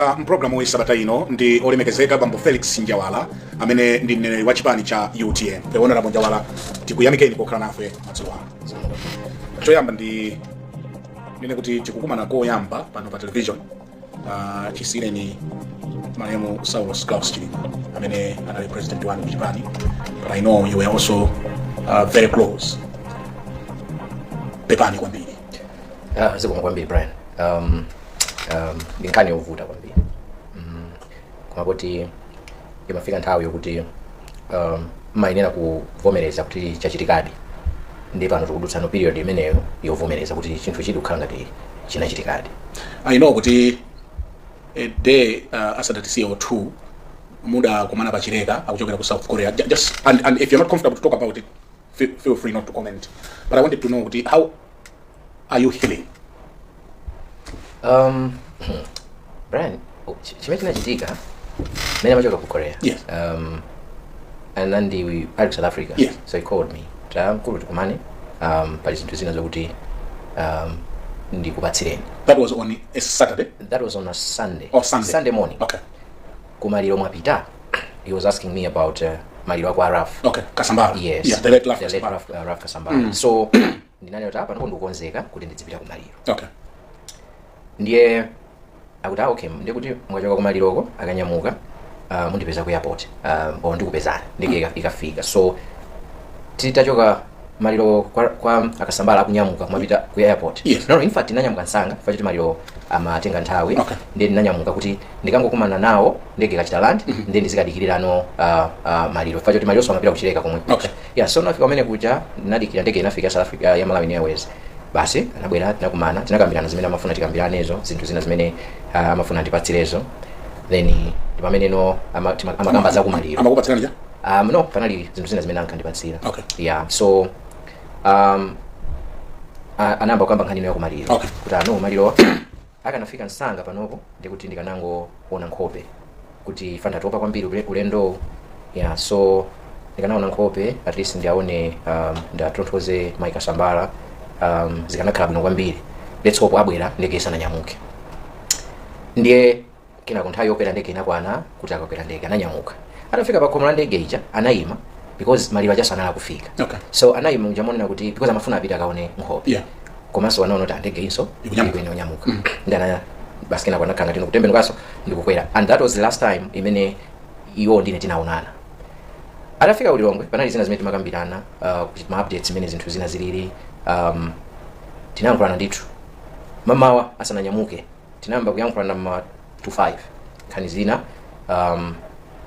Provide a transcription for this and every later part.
Ah, mu pulogalamu ya sabata ino ndi olemekezeka bambo felix njawala amene ndi mneneri wa chipani cha utm honourable njawala tikuyamikeni pokhala nafe madzulo ano choyamba ndinene kuti tikukumana koyamba pano pa television uh, chisiireni malemu saulos claus chilima amene anali president wanu ku chipani but i know you were also uh, very close pepani kwambiri Ah, zikomo kwambiri brian um, um, ndi nkhani yovuta kwambiri mm, koma kuti imafika nthawi yokuti um, umayenera kuvomereza kuti chachitikadi ndi pano tikudutsa no period imeneyo yovomereza kuti chinthuchidi kukhala ngati chinachitikadi i know kuti a day uh, asadatisiye or two mudakumana pachileka akuchokera ku south korea Ju- just and, and if you're not comfortable to talk about it feel, feel free not to comment but i wanted to know kuti how are you healing? Um, Brian, chimene chinachitika mmene amachokera ku korea Yes. um, anandiyimbira ali ku south africa Yes. so he called me kuti amkulu tikumane um, pali zinthu zina zokuti um, ndikupatsireni That was on a Saturday. that was on a sunday Oh Sunday. sunday morning Okay. kumaliro mwapita he was asking me about uh, maliro a kwa ralph okay kasambara yes yeah, the late Ralph the late Kasambara. Ralph, uh, Ralph Kasambara mm. so ndinanena kuti apa ndipo ndikukonzeka kuti ndidzipita kumaliro okay ndiye akuti ah, okay ndiye kuti mukachoka kumaliroko akanyamuka uh, mundipeza ku airport uh, or ndikupezani ndege ikafika so titachoka maliro kwa, kwa a kasambara kunyamuka kumapita ku airport Yes. no, no, in fact ndinanyamuka msanga chifukwa choti maliro amatenga nthawi Okay. ndiye ndinanyamuka kuti ndikangokumana nawo ndege ikachita land ndiye ndizikadikirira no uh, uh, maliro chifukwa choti maliro amapita kuchileka komwe Okay. yeah, so nafika kumene kuja ndinadikira ndege inafika ya South Africa ya Malawi Airways basi anabwera tinakumana tinakambirana zimene amafuna tikambiranezo zinthu zina zimene uh, amafuna ndipatsirezo then ndi pamene no ama- tima- amakamba za kumaliro amakupatsirani chani um, no panali zinthu zina zimene ankandipatsira Okay. yeah so um, a- anayamba kukamba nkhani no ya kumaliro Okay. kuti ah no maliro akanafika msanga panopo ndiye kuti ndikanangoona nkhope kuti chifukwa ndatopa kwambiri ule- ulendowu yeah so ndikanaona nkhope at least ndiwaone um, ndiwatonthoze mayi kasambala um, zikanakhala bwino kwambiri let's hope abwera ndege isananyamuke ndiye kenako nthawi yokwera ndege inakwana kuti akakwera ndege ananyamuka atafika pakhomo la ndege ija anayima because maliro aja so anali akufika Okay. so anayima uja monena kuti because amafuna apita akaone nkhope Yeah. komanso anaona kuti ah ndege inso Ikunyamuka. ikuyenera kunyamuka ndiye ana basi kenako anakhala tino kutembenukanso ndikukwera and that was the last time imene iwo ndine tinaonana atafika ku lilongwe panali zina zimene timakambirana uh, kuti ma updates zimene zinthu zina zilili um, tinayankhulana ndithu mamawa asananyamuke tinayamba kuyankhulana ma 25 nkhani zina um,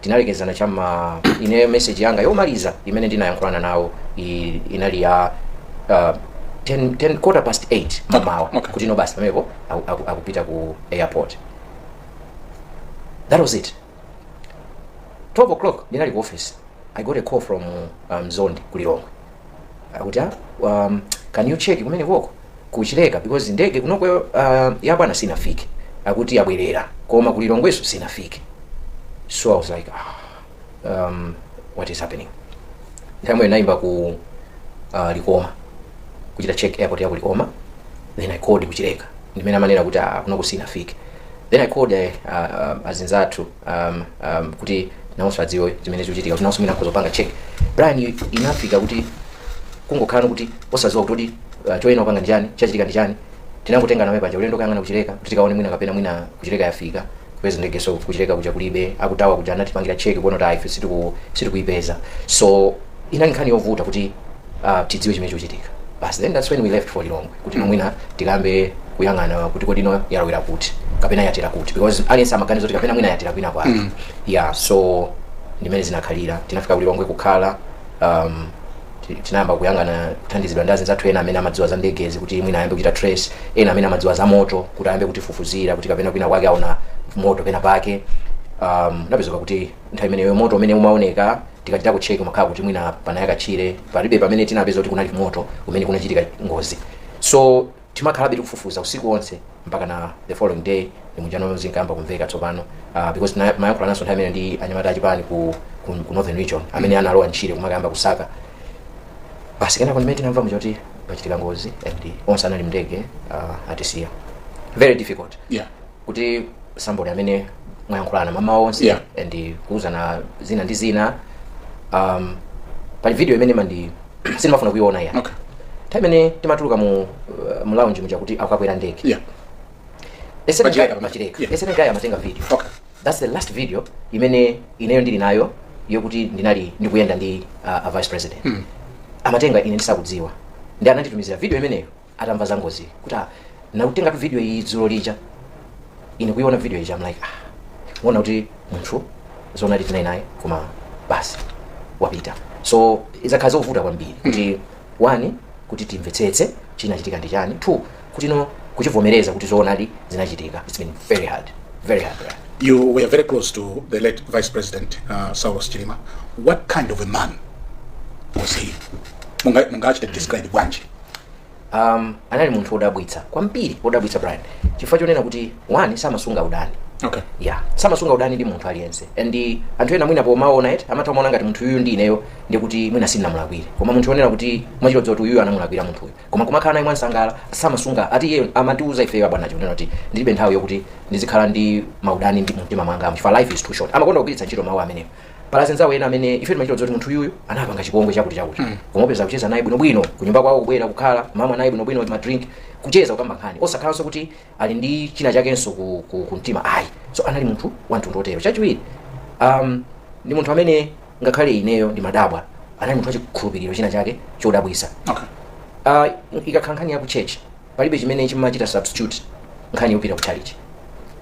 tinalekezana chama ineyo message yanga yomaliza imene ndinayankhulana nawo i- inali ya uh, 10, 10 quarter past 8 mamawa Okay. kuti no basi pamenepo aku- aku- akupita ku airport that was it 12 o'clock ndinali ku office i got a call from um, zondi ku lilongwe akuti ah, um, can you check kumene koko ku Chileka because ndege kunoko uh, ya bwana sinafike akuti yabwerera koma ku Lilongwenso sinafike so i was like ah, um, what is happening ndi mmene ndinaimba ku uh, likoma kuchita check airport ya ku likoma then i called ku Chileka ndi mmene amanena kuti ah, kunoko sinafike then i called uh, uh, azinzathu um, um, kuti nawonso adziwe zimene zikuchitika kuti nawonso mwina akhoza kupanga check Brian inafika kuti kungokhala kuti osadziwa kuti kodi uh, choyenera kupanga ndi chani chachitika ndi chani tinangotenga nawo panja ulendo kuyang'ana ku Chileka kuti tikaone mwina kapena mwina ku Chileka yafika kupeza ndege so ku Chileka kuja kulibe a ku tower kuja anatipangira check kuona kuti ayi ife sitiku- sitikuyipeza so inali nkhani yovuta kuti uh, tidziwe chimene chikuchitika basi then that's when we left for lilongwe kuti mm. mwina tikayambe kuyang'ana kuti kodi no yalowera kuti kapena yatera kuti because aliyense amaganiza kuti kapena mwina yatera kwina kwake mm. yeah so ndi mmene zinakhalira tinafika ku Lilongwe kukhala um, ti- tinayamba kuyang'ana kuthandizidwa ndi anzathu ena amene amadziwa za ndegezi kuti mwina ayambe kuchita trace ena amene amadziwa za moto kuti ayambe kutifufuzira kuti kapena kwina kwake aona moto pena pake um, ndiye kupezeka kuti nthawi imeneyo moto umene umaoneka tikachita ku check umakhala kuti mwina panayaka tchire palibe pamene tinapeza kuti kunali moto umene kunachitika ngozi so timakhalabe tikufufuza usiku wonse mpakana the following day ndi muja no zinkayamba kumveka tsopano uh, because tina- timayankhulananso nthawi imeneyo ndi anyamata achipani ku, ku, ku northern region amene analowa m'tchire kumakayamba kusaka basi kenako ndi mmene tinamva zoti pachitika ngozi and onse anali m'ndege uh, atisiya very difficult yeah kuti somebody amene mwayankhulana mamawa onse Yeah. and kuuzana zina ndi zina um, pali video imene mpaka sindimafuna kuiona ya okay time imene timatuluka mu, uh, mu lounge muja kuti akakwera ndege yeah esene guy Pa Chileka pamene. pa Chileka Yeah. esene guy amatenga video okay that's the last video imene ineyo ndili nayo yokuti ndinali ndikuyenda ndi uh, a vice president mm. amatenga ine ndisakudziwa ndiye ananditumizira video imeneyo atamva za ngozi kuti ah, ndinakutengatu video iyi dzulo lija ine kuiona video ija I'm like ah, ukuona kuti munthu dzulo lija tinali naye koma basi wapita so idzakhala zovuta kwambiri kuti one kuti timvetsetse chinachitika ndi chani two kuti no kuchivomereza kuti zoonadi zinachitika it's been very hard very hard Brian. You were very close to the late Vice President uh, Saulos Chilima. What kind of a man was he? Munga, mungachite describe bwanji. um, anali munthu wodabwitsa kwambiri wodabwitsa brian chifukwa chonena kuti one samasunga udani okay ya samasunga udani ndi munthu aliyense and anthu ena mwina pomaona eti amatha kumaona ngati munthu uyu ndi ineyo ndi kuti mwina sindinamulakwire koma munthu onena kuti timachidziwa kuti uyu anamulakwira munthuyu koma kumakhala naye mwansangala samasunga ati iye amatiuza ifeyo abwana chonena kuti ndilibe nthawi yokuti ndizikhala ndi maudani mu mtima mwanga chifukwa life is too short amakonda kugwiritsa ntchito mawu amenewo pala zinzawo ena amene ife timachidziwa zoti munthu uyu anapanga chipongwe chakuti chakuti koma upeza kucheza naye bwinobwino kunyumba kwawo kubwera kukhala kumamwa naye bwinobwino madrink kucheza kukamba nkhani osakhalanso kuti ali ndi china chakenso ku, ku, ku mtima ayi so anali munthu wa mtundu otero chachiwiri um, ndi munthu amene ngakhale ineyo ndimadabwa anali munthu wachikhulupiriro china chake chodabwisa Okay. uh, ikakhala nkhani ya ku church palibe chimene chimachita substitute nkhani yopita ku chalichi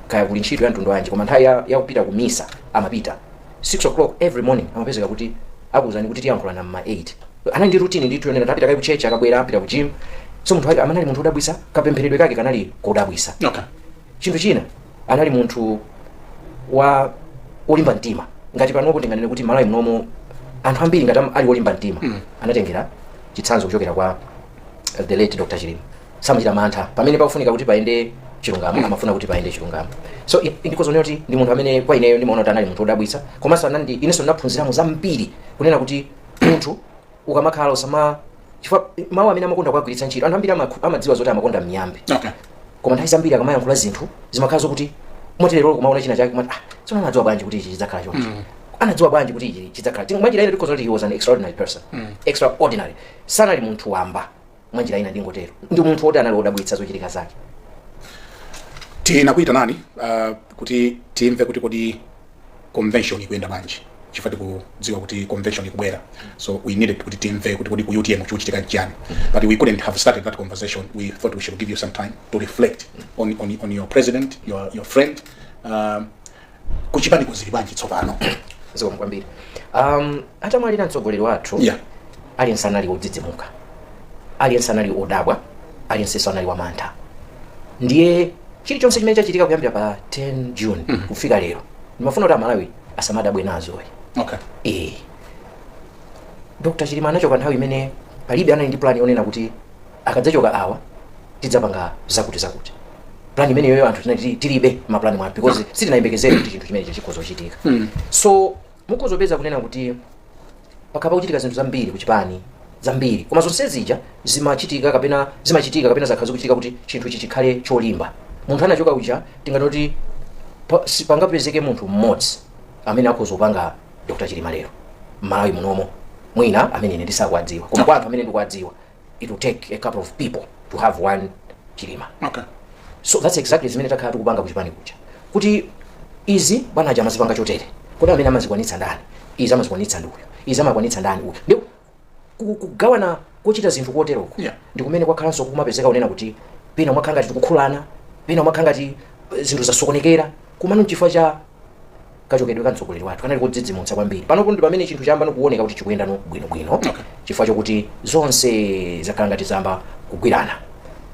kaya kuli ntchito ya mtundu wanji koma nthawi ya- yakupita ku misa amapita 6 o'clock every morning mumapezeka kuti akuwuzani kuti tiyankhulana mma 8 anali ndi rutini ndithu yonena ndapita kaye ku church akabwera apita ku gym so munthu wake anali munthu wodabwisa kapempheredwe kake kanali kodabwisa okay chinthu china anali munthu wa olimba mtima ngati panopo tinganene kuti malawi munomo anthu ambiri ngati am- ali olimba mtima anatengera chitsanzo kuchokera kwa the late dr chilima samachita mantha pamene pakufunika kuti payende chilungamo amafuna kuti payende chilungamo so i- ndikhoza kuti ndi munthu amene kwa ineyo ndimaona kuti anali munthu wodabwitsa komanso anandi inenso ndinaphunziramo zambiri kunena kuti munthu ukamakhala usama chifukwa mawu amene amakonda kuwagwiritsa ntchito anthu ambiri amakhu- amadziwa zoti amakonda miyambi okay koma nthawi zambiri akamayankhula zinthu zimakhala zokuti mukadzapita kumaona china chake kumati ah tsono anadziwa bwanji kuti ichi chidzakhala choncho anadziwa bwanji kuti ichi chidzakhala Ting- mwanjira ina tikhoza kuti he was an extraordinary person extraordinary sanali munthu wamba mwa njira ina ndingotero ndi munthu woti anali wodabwitsa zochitika zake tinakuyitanani uh, kuti timve kuti kodi convention ikuyenda bwanji chifukwa tikudziwa kuti convention ikubwera so we needed kuti timve kuti kodi ku utm chikuchitika chiyani but we couldn't have started that conversation without we should give you some time to reflect on, on, on your president your, your friend um, kuchipaniko zili bwanji tsopano zikomo kwambiri um, atamwalira mtsogoleri wathu Yeah. aliyense anali wodzidzimuka aliyense anali odabwa aliyensenso anali wamantha ndiye chilichonse chimene chachitika kuyambira pa 10 june kufika lero ndimafuna kuti amalawi asamadabwe nazo ayi okay eh dr chilima anachoka nthawi imene palibe amene anali ndi plan yonena kuti akadzachoka awa tidzapanga zakuti zakuti plan imeneyoyo anthu tinali tili- tilibe maplan amenewo because sitinayembekezere kuti chinthu chimenecho chikhoza kuchitika so mukhoza kupeza kunena kuti pakhala pakuchitika zinthu zambiri kuchipani zambiri koma zonse zija zimachitika kapena zimachitika kapena zakhala zikuchitika kuti chinthu ichi chikhale cholimba munthu anachoka uja tinganoti pa- si- pangapezeke munthu mmodzi amene akhoza kupanga dr chilima lero mmalawi munomo mwina amene ine sindikuwadziwa koma kwa anthu amene ndikuwadziwa it will take a couple of people to have one chilima okay so that's exactly zimene takhala tikupanga kuchipani kuja kuti izi bwana aja amazipanga chotere kodi amene amazikwanitsa ndi ndani izi amazikwanitsa ndi uyu izi amakwanitsa ndi uyu ndi ku- kugawana kuchita zinthu koteroko Yeah. ndi kumene kwakhalanso kumapezeka zonena kuti pena umakhala ngati tikukhulana pena umakhala ngati eh, zinthu zasokonekera komano chifukwa cha kachokedwe ka mtsogoleri wathu kanali kodzidzimutsa kwambiri panopo ndi pamene chinthu chayambano kuoneka kuti chikuyendano bwinobwino okay. chifukwa chokuti zonse zakhala ngati zayamba kugwirana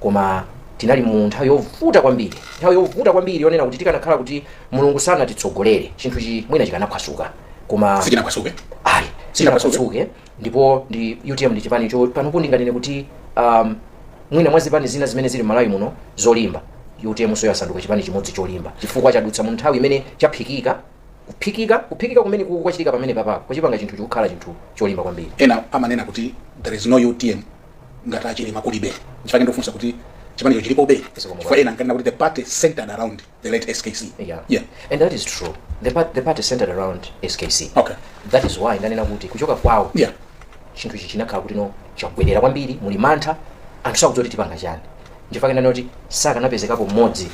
koma tinali mu nthawi yovuta kwambiri nthawi yovuta kwambiri yonena kuti tikanakhala kuti mulungu sanatitsogolere chinthuchi mwina chikanaphwasuka koma sichinaphwasuke ayi Sichinaphwasuke. sinaphwasuke ndipo ndi utm ndi chipani cho panopo ndinganene kuti um, mwina mwa zipani zina zimene zili malawi muno zolimba utm nso yasanduka chipani chimodzi cholimba chifukwa chadutsa mu nthawi imene chaphikika kuphikika kuphikika kumeneku kwachitika pamenepapa kwachipanga chinthuchi kukhala chinthu cholimba kwambiri ena amanena kuti there is no utm ngati achilima kulibe nchifukwa ndafunsa kuti chipanicho chilipobe Zikomo chifukwa ena ankanena kuti the party centered around The late SKC. Yeah. Yeah. And that is true. The, part, the party centered around SKC. Okay. That is why ndanena kuti kuchoka kwawo Yeah. chinthu ichi chinakhala kuti no chagubwerera kwambiri muli mantha anthu sakudziwa kuti tipanga chani nchifukwa chake ndati kuti sakanapezekapo mmodzi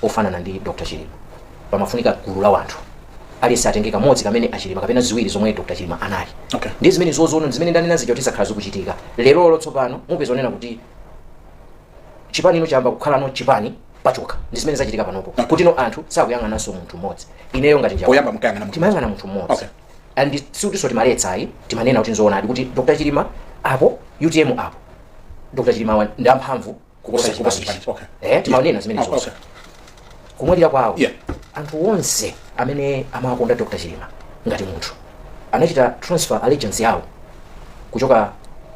ofanana ndi dr chilima pamafunika gulu la wanthu aliyense atenge kamodzi kamene achilima kapena ziwiri zomwe dr chilima anali Okay. ndi zimenezozono zimene ndanena zija kuti zakhala zikuchitika lerolo tsopano mupeza zonena kuti chipanichi no chayamba kukhalano chipani pachokha ndi zimene zachitika panopo kuti no anthu sakuyang'ananso munthu mmodzi ineyo ngati njawala poyamba munkayang'ana munthu timayang'ana munthu mmodzi Okay. and sikutinso timaletsa ayi timanena kuti nzoonadi kuti dr chilima apo utm apo dr chilima wa- ndi amphamvu kuposa Kuposa chipani chipani, okay. eh timanena zimene Okay, zonse okay. kumwalira kwawo Yeah. anthu onse amene amakonda dr chilima ngati munthu anachita transfer allegiance yawo kuchoka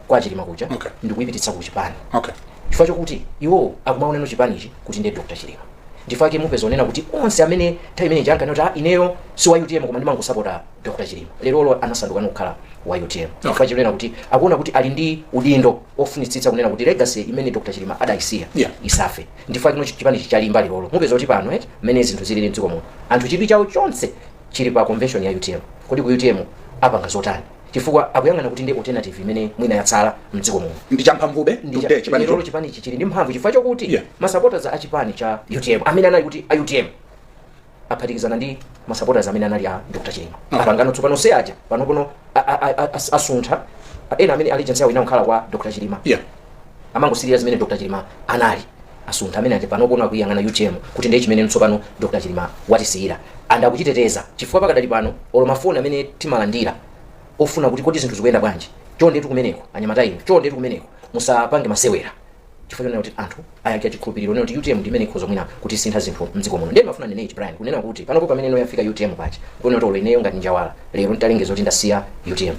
kwa chilima kuja Okay. ndi kuyipititsa ku chipani okay chifukwa chokuti iwo akumaoneno chipanichi kuti ndiye dr chilima nchifukwa chake mupeza zonena kuti onse amene nthawi imeneija ankati "Ah, ineyo si wa utm koma ndimangosapota dr chilima lerolo anasanduka kukhala wa utm chifukwa chonena kuti akuona kuti ali ndi udindo ofunitsitsa kunena kuti legacy imene dr chilima adayisiya Yeah. isafe Nchifukwa chake no chipani ichi chalimba lerolo. Mupeza kuti pano eti, mmene zinthu zilili mdziko muno, anthu chidwi chawo chonse chili pa convention ya utm. Kodi ku utm apanga zotani? Chifukwa akuyang'ana kuti ndiye alternative imene mwina yatsala mdziko muno. Ndi champhamvube Ndi cha- today chipani lerolo cho. chipani ichi chili ndi mphamvu chifukwa chokuti Yeah. ma supporters a chipani cha utm amene anali kuti a utm aphatikizana ndi masupporters amene anali a Dr. Chilima apangano tsopano se aja panopono a- a- a- a- as- asuntha ena amene allegiance yawo inakhala kwa Dr. Chilima yeah amangosirira zimene Dr. Chilima anali asuntha amene aja panopono akuyang'ana UTM kuti ndiye chimene tsopano Dr. Chilima watisiyira and akuchiteteza chifukwa pakadali pano olo mafoni amene timalandira ofuna kuti kodi zinthu zikuyenda bwanji chondetu kumeneko anyamata inu chondetu kumeneko musapange masewera chifukwa chonena kuti anthu ayikira chikhulupiriro kunena kuti utm ndi imene ikhoza mwina kutisinthira zinthu mdziko muno ndiye ndimafuna ndinene ichi brian kunena kuti panopo pamene ino yafika utm paja kuona kuti olo ineyo ngati njawala lero nditalengeza kuti ndasiya utm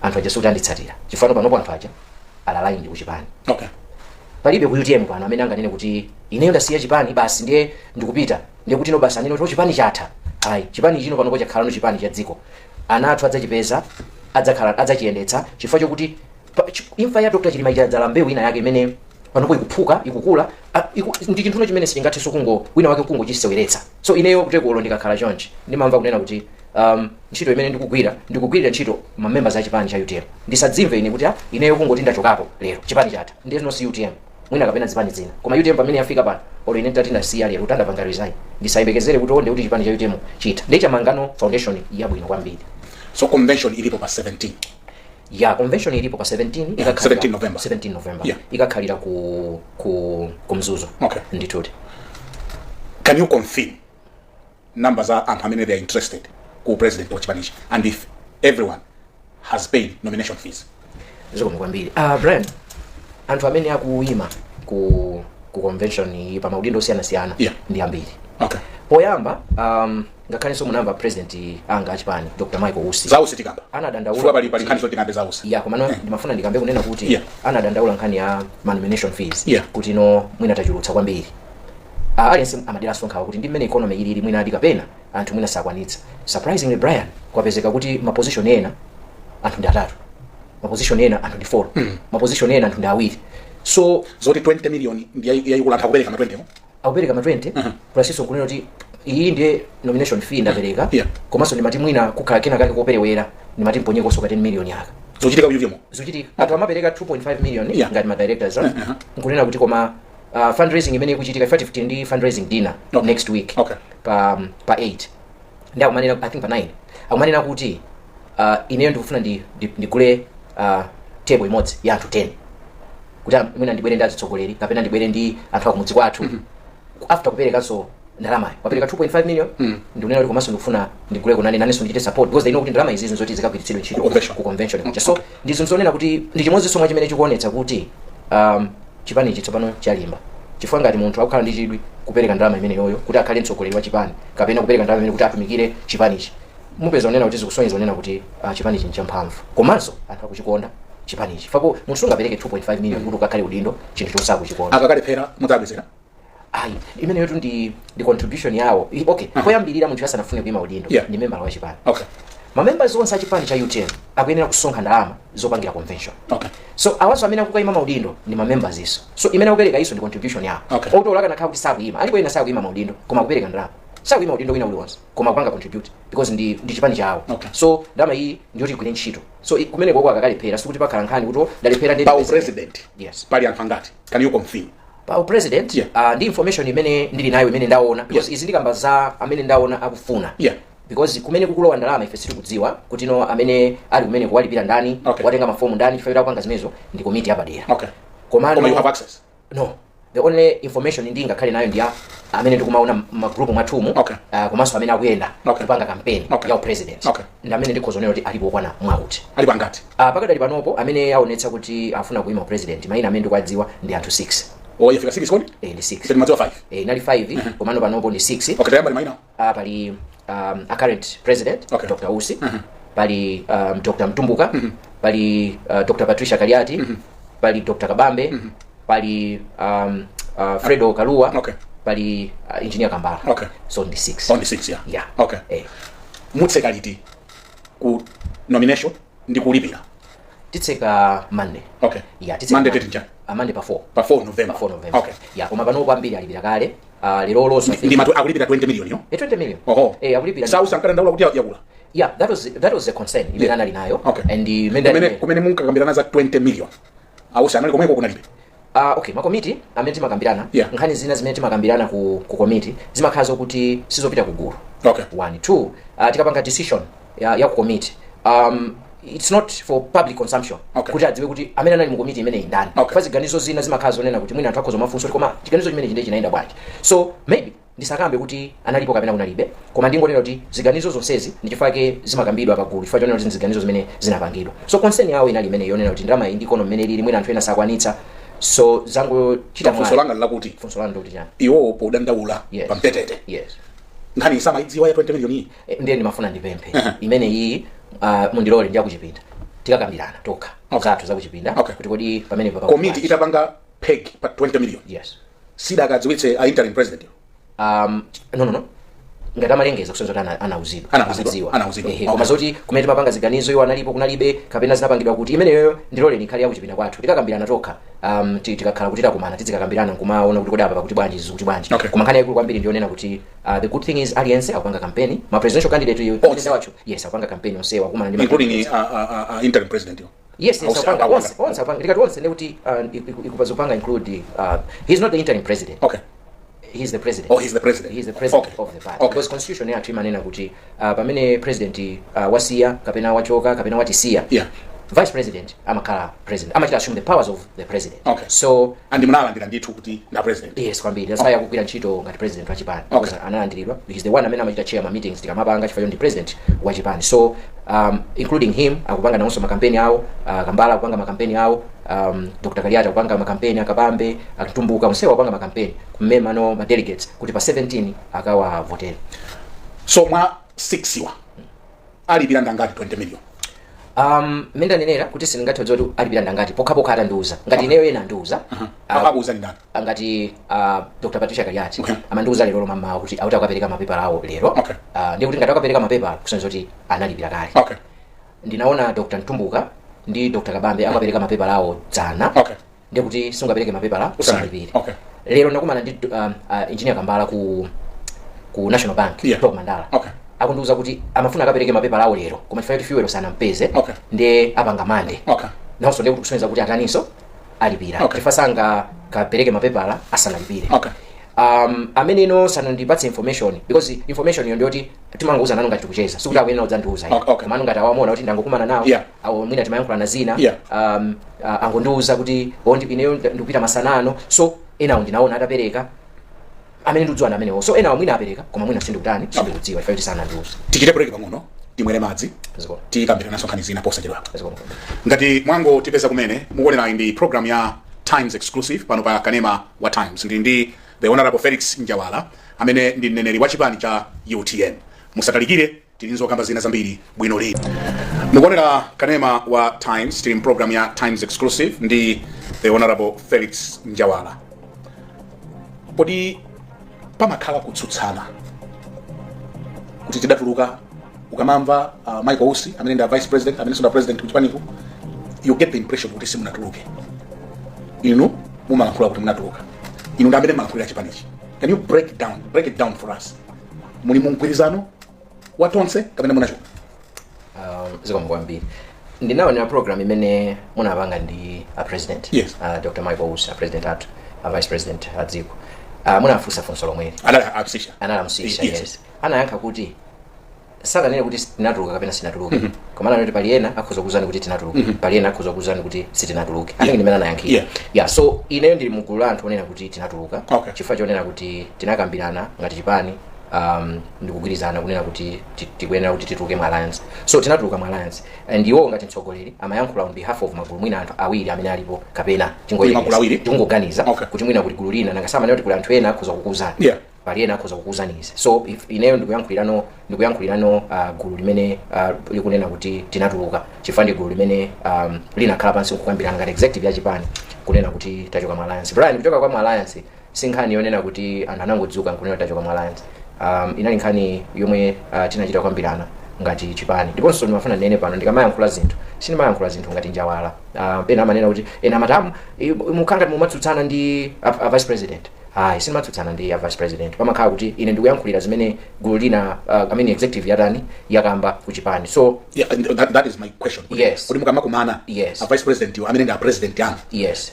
anthu aja sikuti anditsatira chifukwa panopo anthu aja a loyal ndi kuchipani okay palibe ku utm pano amene anganene kuti ineyo ndasiya chipani basi ndiye ndikupita ndiye kuti no basi anene kuti "Oh, chipani chatha ayi chipani chino panopo chakhalano chipani cha dziko ana athu adzachipeza adzakhala adzachiyendetsa chifukwa chokuti Pa- chi- imfa ya dr chilima yadzala mbewu ina yake imene panopo ikuphuka ikukula a- iku- ndi chinthuno chimene sichingathenso kungo wina wake kungochiseweretsa so ineyo kutereko ndikakhala chonchi ndimamva kunena kuti um, ntchito imene ndikugwira ndikugwirira ntchito mamembers a chipani cha utm ndisadzimve ine kuti ah, ineyo kungoti ndachokapo lero chipani chatha ndiye no si utm mwina kapena zipani zina koma utm pamene yafika pano olo ine nditati ndasiya lero kuti ndapanga resign ndisayembekezere kuti onde kuti chipani cha utm chitha ndiye chamangano foundation yabwino kwambiri so convention ilipo pa 17 yeah convention ilipo pa 17 ikakhalira- 17 November. 17 november Yeah. ikakhalira ku ku ku mzuzu Okay. ndithuti can you confirm number za anthu amene they are interested ku president wa chipanichi and if everyone has paid nomination fees zikomo kwambiri ah brian anthu amene akuyima ku ku convention iyi pa maudindo osiyanasiyana Yeah. ndi ambiri okay poyamba um, ngakhalenso munamba president anga achipani dr michael usi zausi tikamba anadandaula chifukwa pali pali kuti- nkhani zoti tikambe zausi yeah komano ndimafuna ndikambe kunena kuti Yeah. anadandaula nkhani ya manomination fees Yeah. kuti no mwina tachulutsa kwambiri Ah, aliyense amadera so nkhawa kuti ndi mmene economy ilili mwina ali kapena anthu mwina sakwanitsa surprisingly brian kwapezeka kuti maposition ena anthu ndi atatu maposition ena anthu ndi four maposition ena anthu ndi awiri so zoti 20 million ndi yayi- yayikulu anthu akupereka ma 20 mo akupereka ma 20 Mhm. plusinso kunena kuti iyi ndiye nomination fee ndapereka Yeah. komanso ndimati mwina kukhala kena kake koperewera ndimati mponyekonso ka 10 million aka zochitika mu UTM mo zochitika anthu amapereka 2.5 million Yeah. ngati ma directors ah, Uh-huh. nkunena kuti koma ah, fundraising imene ikuchitika 5 ndi fundraising dinner Okay. next week Okay. pa pa 8 ndi akumanena i think pa 9 akumanena kuti uh, ineyo ndikufuna ndi- ndi- ndigule uh, table imodzi ya anthu 10 kuti am- mwina ndibwere ndi azitsogoleri kapena ndibwere ndi anthu akumudzi kwathu after kupereka so ndalamayo wapereka 2.5 million ndikunena kuti komanso ndikufuna ndigule kunani nanenso ndichite support because they know kuti ndalama izizi nzoti zikagwiritsidwe ntchito Convention. ku convention kuja so ndi zinthu zonena kuti ndi chimodzinso mwa chimene chikuonetsa kuti um, chipanichi tsopano chalimba chifukwa ngati munthu akukhala ndi chidwi kupereka ndalama imeneyoyo kuti akhale mtsogoleri wa chipani kapena kupereka ndalama imene kuti atumikire chipanichi mupeza onena kuti zikusonyeza zonena kuti uh, chipanichi nchamphamvu komanso anthu akuchikonda chipanichi chifukwa munthu sungapereke 2.5 million kuti ukakhale udindo chinthu chosakuchikonda akakalephera mudzabwezera ayi imeneyo tu ndi ndi contribution yawo I- okay poyambirira munthu asanafune kuima udindo Yeah. ndi member wa chipani okay mamembers onse a chipani cha utm akuyenera kusonkha ndalama zopangira convention okay so awaso amene akukaima maudindo ndi mamembers so so imene akupereka iwoso ndi contribution yawo Okay. ngakhale atakhala kuti sakuima alipo ena sakuima maudindo koma akupereka ndalama sakuima udindo wina uliwonse koma akupanga contribute because ndi, ndi chipani chawo Okay. so ndalama iyi ndiyoti igwire ntchito so i- kumeneko uko akakalephera sikuti pakhala nkhani kuti ndalephera ndi pa upresident yes pali anthu angati can you confirm pa upresident Yeah. uh, ndi information imene ndili nayo imene ndaona because izi ndikukamba za amene ndaona akufuna Yeah. because kumene kukulowa ndalama ife sitikudziwa kuti no amene ali kumeneku walipira ndani Okay. watenga mafomu ndani chifukwa kuti akupanga zimenezo ndi komiti yapadera Okay. Koma you have komano access. no the only information ndingakhale nayo ndi ya amene ndikumaona magrupu mwathumu Okay. uh, komanso amene akuyenda Okay. kupanga kampeni Okay. ya upresident Okay. ndi amene ndikhoza kunena kuti alipo okwana mwauti Alipo angati. Ah, pakadali panopo amene aonetsa kuti afuna kuima upresident maina amene ndikuwadziwa ndi anthu 6 yafika 6 kodi eh, ndi 6 si timadziwa 5 eh, inali 5 komano panopo ndi 6 okay tayamba ni maina ah, pali um, a current president Okay. dr usi pali um, dr mtumbuka pali uh, dr patricia kaliati pali dr kabambe pali um, uh, fredo kalua Okay. pali uh, engineer kambala Okay. so ndi 6 only 6 yeah Yeah. okay Eh. mutseka liti ku nomination ndi kulipira titseka monday okay ya titseka Monday date njani? Ah, monday pa 4 pa 4 november pa 4 november okay ya koma pano kwambiri alipira kale Ah, lero lonso I think- ndimati akulipira 20 million yo Eh, 20 million oho eh akulipira si a usi ankadandaula kuti yakula yeah that was that was the concern imene Yeah. anali nayo Okay. and imene kumene kumene munkakambirana za 20 million a usi anali komweko kunalibe Ah, okay makomiti amene timakambirana Yeah. nkhani zina zimene timakambirana ku, ku komiti zimakhala zokuti sizopita ku gulu okay one two uh, tikapanga decision ya, ya ku komiti um, it's not for public consumption Okay. kuti adziwe kuti amene anali mu komiti imeneyi ndani Okay. chifukwa ziganizo zina zimakhala zonena kuti mwina anthu akhoza kumafunsa kuti koma chiganizo chimenechi ndiye chinayenda bwanji so maybe Ndisakambe kuti analipo kapena kunalibe, koma ndingonena kuti ziganizo zonsezi ndi chifukwa chake zimakambidwa pagulu chifukwa chonena kuti ndi ziganizo zimene zinapangidwa. So concern yawo inali imeneyi yonena kuti ndalama iyi ndi economy mmene ilili mwina anthu ena sakwanitsa so zangochita funso mwayi. langa ndilakuti Funso lanu ndikuti chani? iwowo podandaula Yes. pa mtetete Yes. nkhani samayidziwa ya 20 million iyi Eh, Ndiye ndimafuna ndipemphe imene iyi ah, mundilole ndi ya kuchipinda tikakambirana tokha Okay. zathu zakuchipinda Okay. kuti kodi pamene papa komiti itapanga peg pa 20 million yes sidakadziwitse a interim president yo um, no, no, no. ngati amalengeza kusonyeza kuti ana- anauzidwa Anauzidwa, Anadziwa. anauzidwa. Ehe, Okay. koma zoti kumene timapanga ziganizo iwo analipo kunalibe kapena zinapangidwa kuti imeneyo ndiloleni ikhale yakuchipinda kwathu tikakambirana tokha um, ti- tikakhala kuti takumana tizikakambirana nkumaona kuti kodi apa pakuti bwanji izi kuti bwanji Okay. koma nkhani yaikulu kwambiri ndiyonena kuti uh, the good thing is aliyense akupanga kampeni ma presidential candidate Onse. wacho Yes akupanga kampeni onsewa akumana ndi ma- including uh, uh, uh, interim president yo yes yes Onse apanga apanga. onse onse apanga ndikati onse ndikuti uh, iku- zikupanga include uh, he's not the interim president okay he's the president Oh, he's the president. he's the president Okay. of the party Okay. because constitution yathu imanena kuti uh, pamene president uh, wasiya kapena wachoka kapena watisiya Yeah. vice president amakhala president amachita assume the powers of the president Okay. so and munalandira ndithu kuti ndi president yes kwambiri that's why akugwira ntchito ngati president wa chipani Okay. Because analandiridwa he's the one amene amachita chair ma meetings tikamapanga chifukwa ndi president wa chipani so um, including him akupanga nawonso makampeni awo uh, kambala akupanga makampeni awo um, dr kaliati akupanga makampeni a kabambe a mtumbuka onsewa akupanga makampeni kumema ma delegates kuti pa 17 akawavotere so mwa 6 wa alipira ndangati 20 million um mmene ndanenera kuti sindingathe kudziwa kuti alipira ndangati pokhapokha atandiuza ngati ineyo ena andiuza akakuuza ndi ndani ah, ngati ah, dr patricia kaliati Okay. amandiuza lero lomwe mmawa kuti akuti akapereka mapepala awo lero Okay. Ah, ndiye kuti ngati akapereka mapepala kusonyeza kuti analipira kale okay ndinaona dr mtumbuka ndi dr kabambe akapereka mapepala awo dzana okay ndiye kuti sungapereke mapepala usanalipire okay lero ndakumana ndi um, uh, engineer kambala ku ku national bank Yeah. top mandala okay akundiuza kuti amafuna akapereke mapepala awo lero koma chifukwa choti fuel sanampeze Okay. ndiye apanga mande okay nawonso ndiye kuti kusonyeza kuti ataninso alipira Okay. chifukwa sangakapereke mapepala asanalipire okay um, amene ineyo sanandipatse information because information iyo ndiyoti timangouza nanu ngati tikucheza sikuti akuyenera kudzandiuza Okay, okay. komano ngati awa mwaona kuti ndangokumana nawo Yeah. awo mwina timayankhulana zina Yeah. um, uh, angondiuza kuti "Oh, ndi- ineyo ndi- ndikupita masana ano so enawo ndinaona atapereka amene ndikudziwa ndi amenewo so enawo mwina apereka koma mwina sindikutani sindikudziwa chifukwa choti sanandiuza tichite break pang'ono timwere madzi Zikomo. tikambirananso nkhani zina posachedwa apa Zikomo. ngati mwangotipeza kumene mukuonerayi ndi program ya times exclusive pano pa kanema wa times ndili ndi the honorable felix njawala amene ndi mneneri wa chipani cha utm musatalikire Tili nzokamba zina zambiri bwino lino. Mukuonera kanema wa Times tili mpulogalamu ya Times Exclusive ndi the Honorable Felix Njawala. Kodi pamakhala kutsutsana kuti tidatuluka ukamamva uh, Michael Usi amene ndi a vice president amenenso ndi a president kuchipaniku you get the impression kuti simunatuluke inu mumalankhula kuti munatuluka inu ndi amene mumalankhulira chipanichi can you break down break it down for us muli mu mgwirizano wa tonse kapena munachoka um, zikomo kwambiri ndinaonera program imene munapanga ndi a president Yes. uh, dr michael usi a president athu a vice president a dziko uh, munafunsa funso lomweli analiyankha Yes. yes anayankha kuti sanganene kuti tinatuluka kapena sitinatuluke koma ananena kuti pali ena akhoza kuuzani kuti tinatuluka pali ena akhoza kuuzani kuti sitinatuluke I think ndimmene anayankhira Yeah. yeah so ineyo ndili mugulu la anthu onena kuti tinatuluka Okay. chifukwa chonena kuti tinakambirana ngati chipani um, ndikugwirizana kunena kuti ti- tikuyenera kuti tituluke mu alliance so tinatuluka mu alliance and iwo ngati mtsogoleri amayankhula on behalf of magulu mwina anthu awiri amene alipo kapena tingoyerekeza- Magulu awiri? tingoganiza Okay. kuti mwina kuti gulu lina nanga si amanena kuti kuli anthu ena akhoza kukuuzani Yeah. pali ena akhoza kukuuzani izi so if ineyo ndikuyankhulirano ndikuyankhulirano uh, gulu limene uh, likunena kuti tinatuluka chifukwa ndi gulu limene um, linakhala pansi kukambirana ngati executive ya chipani kunena kuti tachoka mu alliance brian kuchoka kwa mu alliance si nkhani yonena kuti anthu anangodzuka nkunena kuti tachoka mu alliance um, inali nkhani yomwe uh, tinachita kukambirana ngati chipani ndiponso ndimafuna ndinene pano ndikamayankhula zinthu sindimayankhula zinthu ngati njawala uh, pena amanena kuti ena matamu mumakhala ngati mumatsutsana ndi a, a vice president ayi sindimatsutsana ndi a vice president pamakhala kuti ine ndikuyankhulira zimene gulu lina uh, I mean executive yatani yakamba ku chipani so Yeah, and that, that is my question. Yes. Kuti mukamakumana Yes. a vice president wo amene ndi a president anu. yes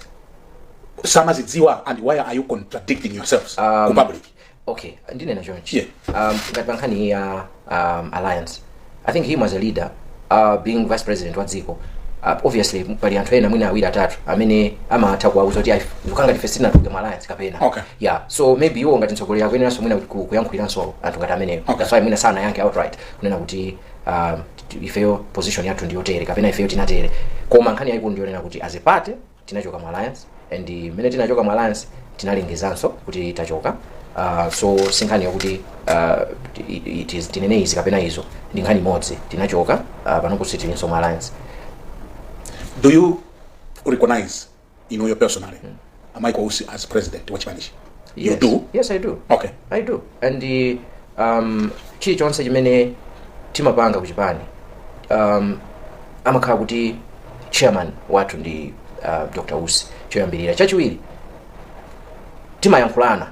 samazidziwa and why are you contradicting yourselves Um, ku public okay ndinene chonchi Yeah. um, ngati pankhani ya um, alliance i think him as a leader uh, being vice president wa dziko uh, obviously pali anthu ena mwina awiri atatu amene amatha kuwauza kuti ndikukhala ngati ife sitinatuluke mu alliance kapena Okay. yeah so maybe iwo ngati mtsogoleri akuyeneranso mwina ku- ku- kuyankhuliranso anthu ngati amenewo Okay. that's why mwina sanayankhe outright kunena kuti um, t- ifeyo position yathu ndiyotere kapena ifeyo tinatere koma nkhani yayikulu ndiyonena kuti as a party tinachoka mu alliance and mmene tinachoka mu alliance tinalengezanso kuti tachoka uh, so sinkhani yokuti uh, it- it is- tinene izi kapena izo ndi nkhani imodzi tinachoka uh, panopa sitilinso mu alliance do you recognize inuyo personally a michael usi as president wa chipanichi You yes. do? Yes, I do. Okay. I do. And the um chilichonse chimene timapanga kuchipani um amakhala kuti chairman wathu ndi uh, Dr. Usi choyambirira. Chachiwiri timayankhulana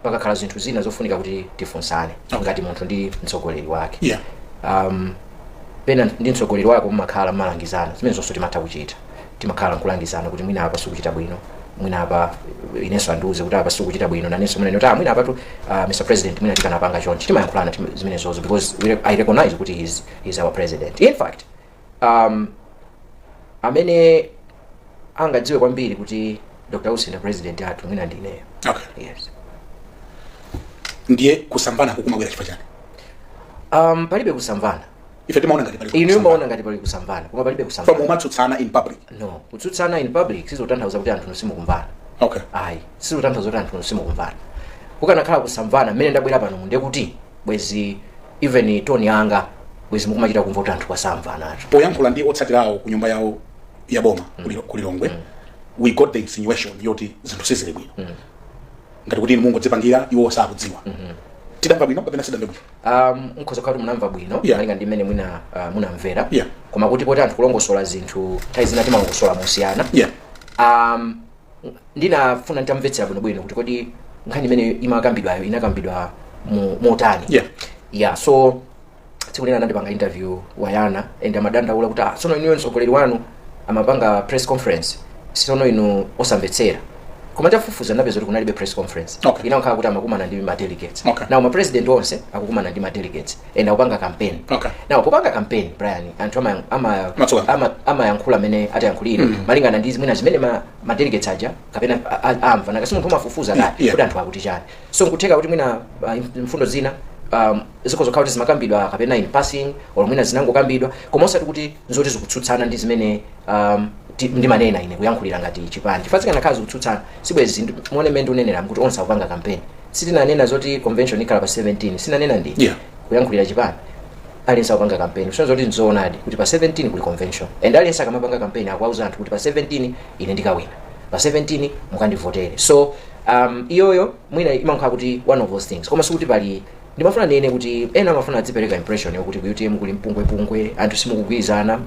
pakakhala zinthu zina zofunika kuti tifunsane okay. ngati munthu ndi mtsogoleri wake yeah. um, pena ndi mtsogoleri wake mumakhala mukulangizana zimenezonso timatha kuchita timakhala nkulangizana kuti mwina apa simukuchita bwino mwina apa inenso andiuze kuti apa simukuchita bwino nanenso mwina kuti ah, mwina apatu uh, mr president mwina tikanapanga chonchi timayankhulana tim- zimenezozo because we, i recognize kuti he's, he's our president in fact um, amene angadziwe kwambiri kuti dr usi ndi president athu mwina ndi ineyo okay yes ndiye kusamvana kukumabwera chifukwa chani um, palibe kusamvana ife timaona ngati pali inu mumaona ngati pali kusamvana koma palibe koma kusamvana mumatsutsana in public no kutsutsana in public sizotanthauza kuti anthu simukumvana okay ayi sizotanthauza kuti anthu simukumvana kukanakhala kusamvana mmene ndabwera pano ndiye kuti bwezi even tone yanga bwezi mukumachita kumva kuti anthu kwasamvana acho poyankhula ndi otsatira awo ku nyumba yawo ya boma ku Lilo- ku lilongwe we got the insinuation yoti zinthu sizili bwino ngati kuti inu mungodzipangira iwo sakudziwa tidamva bwino kapena sitidamve bwino um, nkhoza kuti munamva bwino Yeah. malinga ndi mmene mwina uh, munamvera Yeah. koma kuti poti anthu kulongosola zinthu nthawi zina timalongosola mosiyana Yeah. um, ndinafuna nditamvetsera bwinobwino kuti kodi nkhani imene imakambidwayo inakambidwa mu- motani Yeah. yeah so tsiku lina anandipanga interview wa Yoneco and amadandaula kuti ah, tsono inuyo mtsogoleri wanu amapanga press conference tsono inu osamvetsera koma nditafufuza ndapeza kuti kunalibe press conference Okay. inakhala kuti amakumana ndi ma delegates Okay. now ma president onse akukumana ndi ma delegates and akupanga campaign Okay. now popanga campaign brian anthu ama- ama- Amamasuka. ama- amayankhula mmene atayankhulira malingana ndi mwina zimene ma, ma delegates aja kapena a- a- amva nakasi munthu umafufuza Yeah, kale yeah. kuti anthu akuti chani so nkutheka kuti mwina uh, mfundo zina um, zikhoza kukhala kuti zimakambidwa kapena in passing or mwina zinangokambidwa koma osati kuti nzoti zikutsutsana ndi zimene um, ti- ndimanena ine kuyankhulira ngati chipani chifukwa zikanakhala zikutsutsana sibwezi ndi- muone mmene ndikunenera kuti onse akupanga kampeni si ndinanena zoti convention ikhala pa 17 si ndinanena ndi Yeah. kuyankhulira chipani aliyense akupanga kampeni kusonyeza kuti nzoonadi kuti pa 17 kuli convention and aliyense akamapanga kampeni akuwauza anthu kuti pa 17 ine ndikawina pa 17 mukandivotere so um, iyoyo mwina imakhala kuti one of those things koma sikuti pali ndimafuna ndinene kuti ena amafuna adzipereka impression yokuti ku utm kuli mpungwepungwe anthu simukugwirizana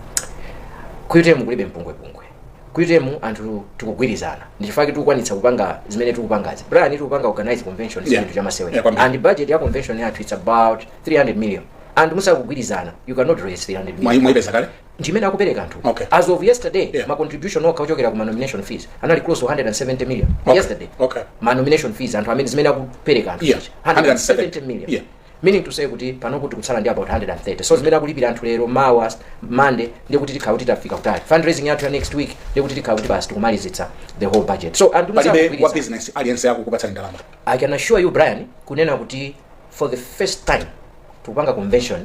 ku utm kulibe mpungwepungwe ku utm anthu tikugwirizana ndichifukwa chake tikukwanitsa kupanga zimene tikupangazi brian tikupanga organize convention Yeah. si chinthu Yeah, chamasewera kwambiri. and budget ya convention yathu its about 300 million anthu musakugwirizana you cannot raise 300 million Mwa- mwaipeza kale ndimene akupereka anthu Okay. as of yesterday Yeah. ma contribution okha ochokera ku ma nomination fees anali close to 170 million Okay. yesterday Okay. ma nomination fees anthu amene zimene akupereka anthu Yeah. 170 million Yeah. meaning to say kuti panopa tikutsala ndi about 130 so zimene akulipira anthu lero mawa monday ndiye kuti tikhala kuti tafika kutali fundraising yathu ya next week ndiye kuti tikhala kuti basi tikumalizitsa the whole budget so anthu palibe wa musakugwirizana. business aliyense akukupatsani ndalama i can assure you brian kunena kuti for the first time tikupanga convention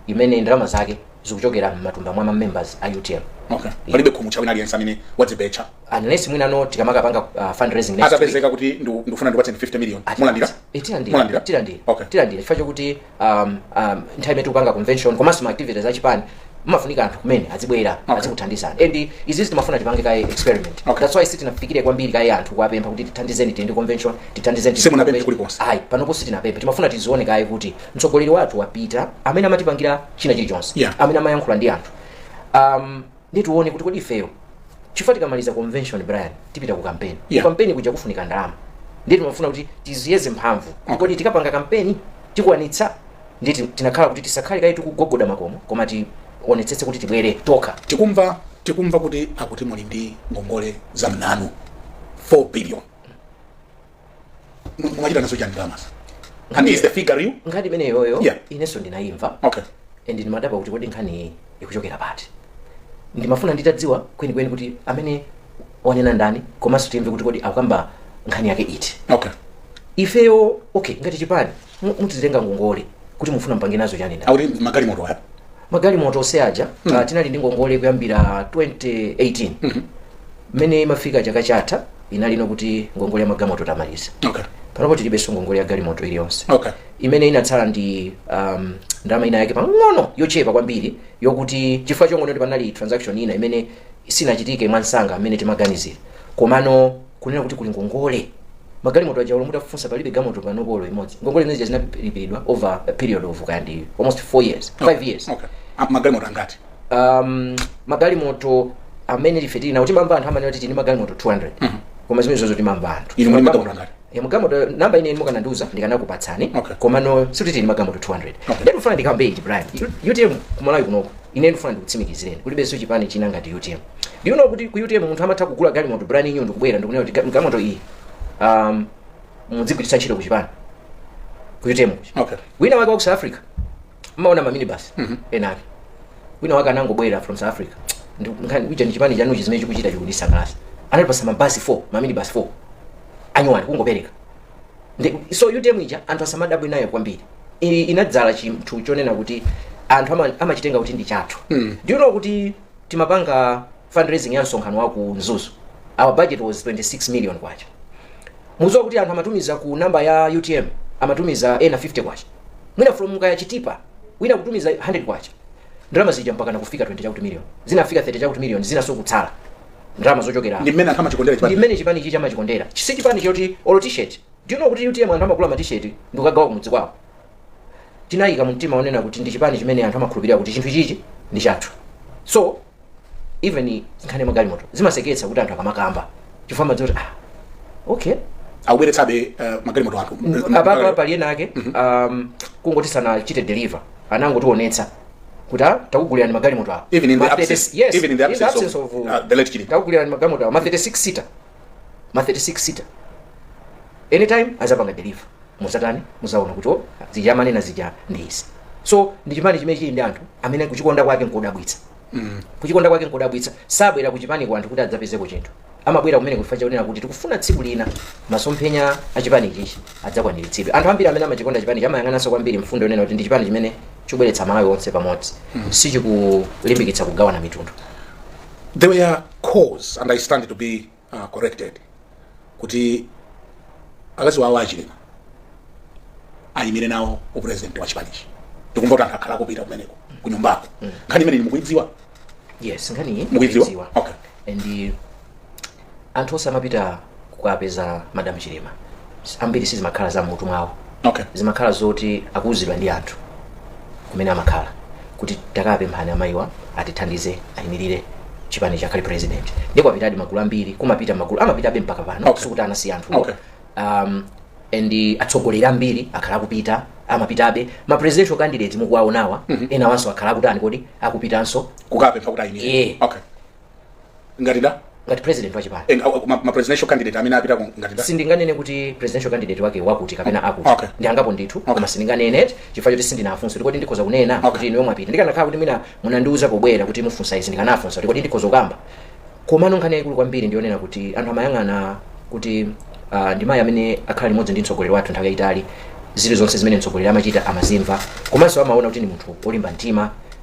imene ndalama zake zikuchokera m'matumba mwa ma members a utm okay palibe khumucha wina aliyense amene wadzibetsa unless mwinano tikamakapanga uh, fundraising next week atapezeka kuti ndu- ndikufuna ndikupatseni 50 million Ati- mulandira Eh, tilandira Mulandira? tilandira Okay. tilandira chifukwa chokuti um, um, nthawi imene tikupanga convention komanso ma activities achipani mmafunika anthu kumene azibwera, Okay. azikuthandizani and izizi timafuna tipange kaye experiment Okay. that's why sitinafikire kwambiri kaye anthu kuwapempha kuti tithandizeni tichite convention tithandizeni Simunapemphe kulikonse. ayi panopo sitinapemphe timafuna tizione kaye kuti mtsogoleri wathu wapita amene amatipangira china chilichonse Yeah. amene amayankhula ndi anthu um, ndi tione kuti kodi ifeyo chifukwa tikamaliza convention brian tipita ku kampeni Yeah. ku kampeni kuja kufunika ndalama ndiye timafuna kuti tiziyeze mphamvu Okay. kodi tikapanga kampeni tikwanitsa Ndiye ti- tinakhala kuti tisakhale kaye tikugogoda makomo koma tionetsetse kuti tibwere tokha tikumva tikumva kuti akuti muli ndi ngongole za mnanu, 4 billion M- mwachita nazo chani ndalamazo and is the figure real nkhani imeneyoyo Yeah. inenso ndinayimva okay and ndimadabwa kuti kodi nkhani iyi ikuchokera pati ndimafuna nditadziwa kwenikweni kuti amene wanena ndani komanso timve kuti kodi akukamba nkhani yake iti okay ifeyo okay ngati chipani Mu- mutitenga ngongole kuti mufuna mupange nazo chani nda akuti magalimoto aya magalimoto onse aja ah, tinali ndi ngongole kuyambira 2018 mmene imafika chaka chatha inali yokuti ngongole ya magalimoto tamaliza okay panopo tilibenso ngongole ya galimoto iliyonse okay imene inatsala ndi um, ndalama ina yake pang'ono yochepa kwambiri yokuti chifukwa chongoti panali transaction ina imene sinachitike mwansanga mmene timaganizira komano kunena kuti kuli ngongole magalimoto aja olo mutafunsa palibe gamoto panopo olo imodzi ngongole imene zija zinalipiridwa over a period of kayandi almost 4 years 5 years okay Ah, magalimoto angati um, magalimoto amene ife tili nawo timamva anthu amanena kuti tili ndi magalimoto 200 koma zimene zozo timamva anthu inu muli ndi magalimoto angati Ya magamoto namba ine mukanandiuza ndikanakupatsani Okay. komano sikuti tili ndi magamoto 200 Okay. nde ndifuna ndikambe ichi brian U- utm kumalawi kunoko ine ndifuna ndikutsimikizireni kulibenso chipani china ngati utm do you know kuti ku utm munthu amatha kugula galimoto brian inyu ndikubwera ndikunena kuti ga- galimoto iyi um, mudzigwiritsa ntchito ku chipani ku utm Okay. wina wake wa ku south africa mmaona mamini basi enake wina wake anangobwera from south africa Ndi- kunena kuti chipani chanuchi zimene chikuchita chikundisangalasa anatipasa mabasi 4 mamini basi 4 anyuwani kungopereka Ndi- so utm ija anthu asamadabwe nayo kwambiri I- inadzala chinthu chonena kuti anthu ama- amachitenga kuti ndi chathu mm. do you know kuti timapanga fundraising ya msonkhano wa ku mzuzu our budget was 26 million kwacha mudziwa kuti anthu amatumiza ku namba ya utm amatumiza ena 50 kwacha mwina from mukaya chitipa wina kutumiza 100 kwacha ndalama zija mpaka nakufika 20 chakuti million zinafika 30 chakuti million zinaso kutsala ndalama zochokera ndi mmene anthu amachikondera chipani ndi mmene chipani ichi chamachikondera si chipani choti olo t-shirt do you know kuti utm anthu amagula ma t-shirt ndikukagawa kumudzi kwawo tinayika mu mtima onena kuti ndi chipani chimene anthu amakhulupirira kuti chinthu ichichi ndi chathu so even nkhani ya magalimoto zimaseketsa kuti anthu akamakamba chifukwa amadziwa kuti ah, okay akubweretsabe eh, magalimoto athu apapa pali ena ake um, kungoti sanachite deliver anangotionetsa kuti ah, takugulirani magalimoto awa even in the Ma 30 absence yes, even in the absence of, uh, the late Chilima takugulirani magalimoto awa ma 36 seater ma 36 seater anytime adzapanga deliver mudzatani mudzaona kuti oh, zija amanena zija ndi izi so ndi chipani chimene chili ndi anthu amene kuchikonda kwake nkodabwitsa kuchikonda kwake nkodabwitsa sabwera kuchipani kwathu kuti adzapezeko chinthu amabwera kumene chifukwa chonena kuti tikufuna tsiku lina masomphenya a chipani chichi adzakwaniritsidwe anthu ambiri amene amachikonda chipani chichi amayang'ananso kwambiri mfundo yonena kuti ndi chipani chimene chikubweretsa malawi onse pamodzi sichikulimbikitsa kugawana mitundu there were calls and i stand to be uh, corrected kuti akazi wawo achilima ayimire nawo upresident wa chipanichi tikumva kuti anthu akhala akupita kumeneko kunyumbako nkhani imene mukuidziwa yes nkhaniyi Mukuidziwa? mukuidziwa. Okay. and anthu onse amapita kukapeza madam chilima ambiri sizimakhala za mutu mwawo okay zimakhala zoti akuuzidwa ndi anthu kumene amakhala kuti takapemphani amayiwa atithandize ayimirire chipanichi akhale president ndi kwapitadi magulu ambiri kumapita magulu amapitabe mpaka pano Okay. sikuti anasiya anthu Okay. um, and atsogoleri ambiri akhala akupita amapitabe ma presidential candidate mukuwaonawa mm -hmm. enawanso akhala akutani kodi akupitanso kukapempha kuti ayimire yeah. okay ngati da ngati president wa chipani eh, au- au- ma ma presidential candidate amene apita ku- ngati da sindinganene kuti presidential candidate wake wakuti kapena akuti Okay. ndi angapo ndithu Okay. koma sindinganene eti chifukwa choti sindinafunse kuti kodi ndikhoza kunena Okay. kuti inuyo mwapita ndikanakhala kuti mwina munandiuza pobwera kuti mufunsa izi ndikanafunsa kuti kodi ndikhoza kukamba komano nkhani yayikulu kwambiri ndiyonena kuti anthu amayang'ana kuti uh, ndi mayi amene akhala limodzi ndi mtsogoleri wathu nthawi yayitali zili zonse zimene mtsogoleri amachita amazimva komanso amaona kuti ndi munthu olimba mtima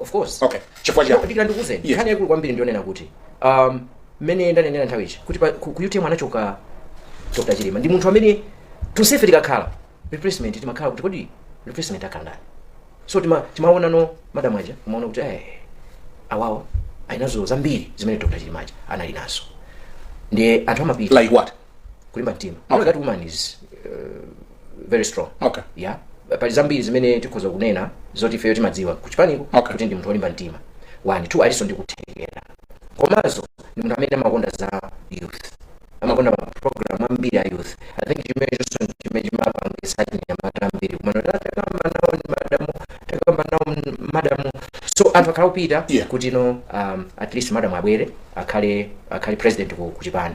of course okay chifukwa chiyani ndikira ndikuuzeni Yes. nkhani yaikulu kwambiri ndiyonena kuti um, mmene ndanenera nthawi ija kuti pa- ku ku utm anachoka dr chilima ndi munthu amene tonsefe tikakhala replacement timakhala kuti kodi replacement akhala ndani so tima- timaona mwa madam aja umaona kuti eh, awawa alinazo zambiri zimene dr chilima aja anali nazo ndiye anthu amapita like what kulimba mtima you know that woman is uh, very strong Okay. yeah pali zambiri zimene tikhoza kunena zoti ifeyo timadziwa kuchipaniko Okay. kuti ndi munthu wolimba mtima one two alinso ndi kuthekera komanso ndi munthu amene amakonda za youth amakonda maprogram ambiri a youth i think chimenecho chimene chimapangisa achinyamata ambiri kumena takamba nawo ndi madamu takamba nawo m- madamu so anthu akhala kupita Yeah. kuti no um, at least madamu abwere akhale akhale president ku, ku chipani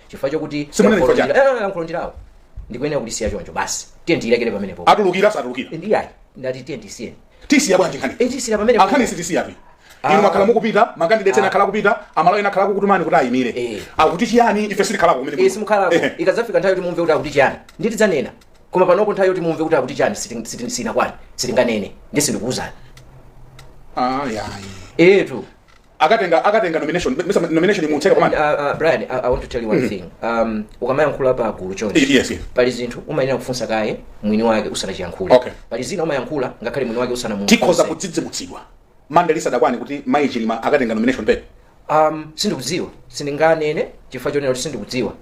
chifukwa chokuti Simunene chifukwa chake. Eh, eh, yankho ndi lawo ndikuyenera kulisiya choncho basi tiye ndiyilekere pamenepo atulukira satulukira ndiye ayi ndati tiye ndisiyeni tisiya bwanji nkhani tisiya pamenepo nkhani sitisiya apa Ah. inu makhala mukupita makandideti ena akhala kupita amalawi ena akhala kukutumani kuti ayimire Eh. akuti chiyani ife sitikhalako kumene kuno. eh simukhalako Ehe. ikadzafika nthawi yoti mumve kuti akuti chiyani ndithu tidzanena koma panopo nthawi yoti mumve kuti akuti chiyani siti- siti- sinakwani sitinganene ndi sindikuwuzani Ah, yayi etu akatenga akatenga nomination nesa nomination imatseka pa Monday Uh, uh, Brian, I, I want to tell you one thing. Um, ukamayankhula pa gulu chonchi. Yes, yes. Pali zinthu umayenera kufunsa kaye mwini wake usanachiyankhule. Okay. Pali zina umayankhula ngakhale mwini wake usanamufunse. tikhoza kudzidzimutsidwa Monday lisadakwane kuti mayi chilima akatenga nomination paper Um, sindikudziwa. Sindinganene chifukwa chonena kuti sindikudziwa.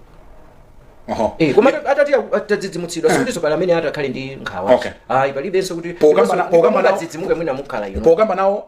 oho Eh, koma atati atadzidzimutsidwa sikutinso pali amene atakhale ndi nkhawa. Okay. Ayi palibenso kuti Pokambana- pokambana- adzidzimuke mwina mukhala ino. pokamba nawo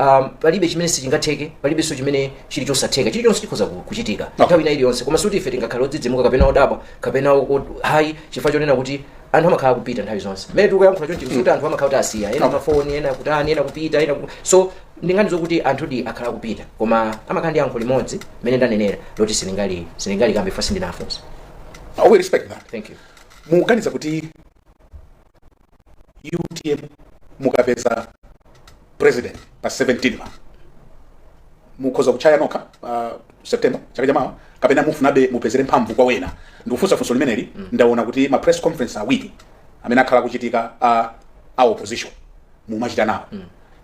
um, palibe chimene sichingatheke palibenso chimene chili chosatheka chilichonse chikhoza ku- kuchitika nthawi ina iliyonse koma sikuti ife tingakhale odzidzimuka kapena odabwa kapena o- o- ayi chifukwa chonena kuti anthu amakhala kupita nthawi zonse mmene tikuyankhula chonchi kuti anthu amakhala akuti asiya ena pafoni ena kutani ena kupita ena ku- so sindingakanenso kuti anthudi akhala kupita koma amakhala ndi yankho limodzi mmene ndanenera loti silingali silingali kambe basi ndinafunsa we respect that thank you muganiza kuti utm mukapeza president pa 17 pa mukhoza kuchaya nokha pa september chaka chamawa kapena mufunabe mupezere mphamvu kwa wena ndikufunsa funso limeneli ndaona kuti ma press conference awiri amene akhala akuchitika a, a opposition mumachita nawo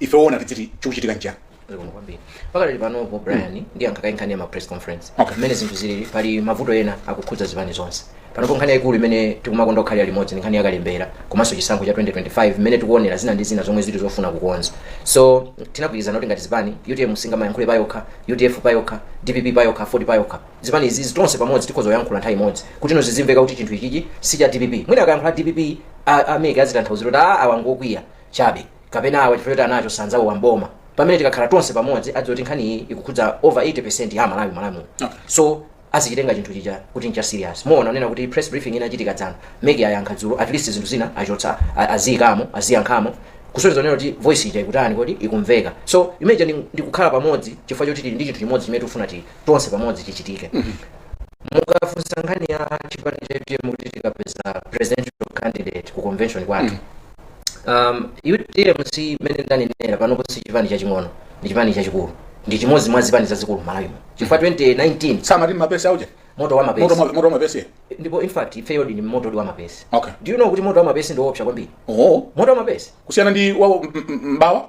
ife owona tiziti chikuchitika nchiyani Zikomo kwambiri pakali panopo brian ndiyankha kaye nkhani ya ma press conference Okay. mmene zinthu zilili pali mavuto ena akukhudza zipani zonse panopo nkhani yayikulu imene tikumakonda kukhalira limodzi ndi nkhani yakalembera komanso chisankho cha 2025 mmene tikuonera zina ndi zina zomwe zili zofuna kukonza so tinagwirizana kuti ngati zipani utm singamayankhule payokha udf payokha dpp payokha aford payokha zipani izizi tonse pamodzi tikhoza kuyankhula nthawi imodzi kuti no zizimveka kuti chinthu ichichi si cha dpp mwina akayankhula dpp a- ameke azitanthauzira kuti a awangokwiya chabe kapena awa chifukwa choti anacho sanzawowa mboma pamene tikakhala tonse pamodzi adziwa kuti nkhani iyi ikukhudza over 80 ya amalawi Okay. so azikitenga chinthu chija kuti ncha serious muona unena kuti press briefing inachitika dzana mec ayankha dzulo at least zinthu zina achotsa a- aziyikamo aziyankhamo kusonyeza unena kuti voice ija ikutani kodi ikumveka so imagine ndi- ndikukhala pamodzi chifukwa choti tili ndi chinthu chimodzi chimene tifuna kuti tonse pamodzi chichitike mukafunsa nkhani ya chipani cha utm kuti tikapeza presidential candidate ku convention kwathu um, utm si mmene ndanenera panopo si chipani chaching'ono ndi chipani chachikulu ndi chimodzi mwa zipani zazikulu malawi muno chifukwa 2019 samati mapesi auje moto wa mapesi moto ma- moto wa mapesi ndipo in fact ifeyo ndi ndi moto wa mapesi Okay. do you know kuti moto wa mapesi ndi woopsa kwambiri oo moto wa mapesi kusiyana ndi wawo m- m- mbawa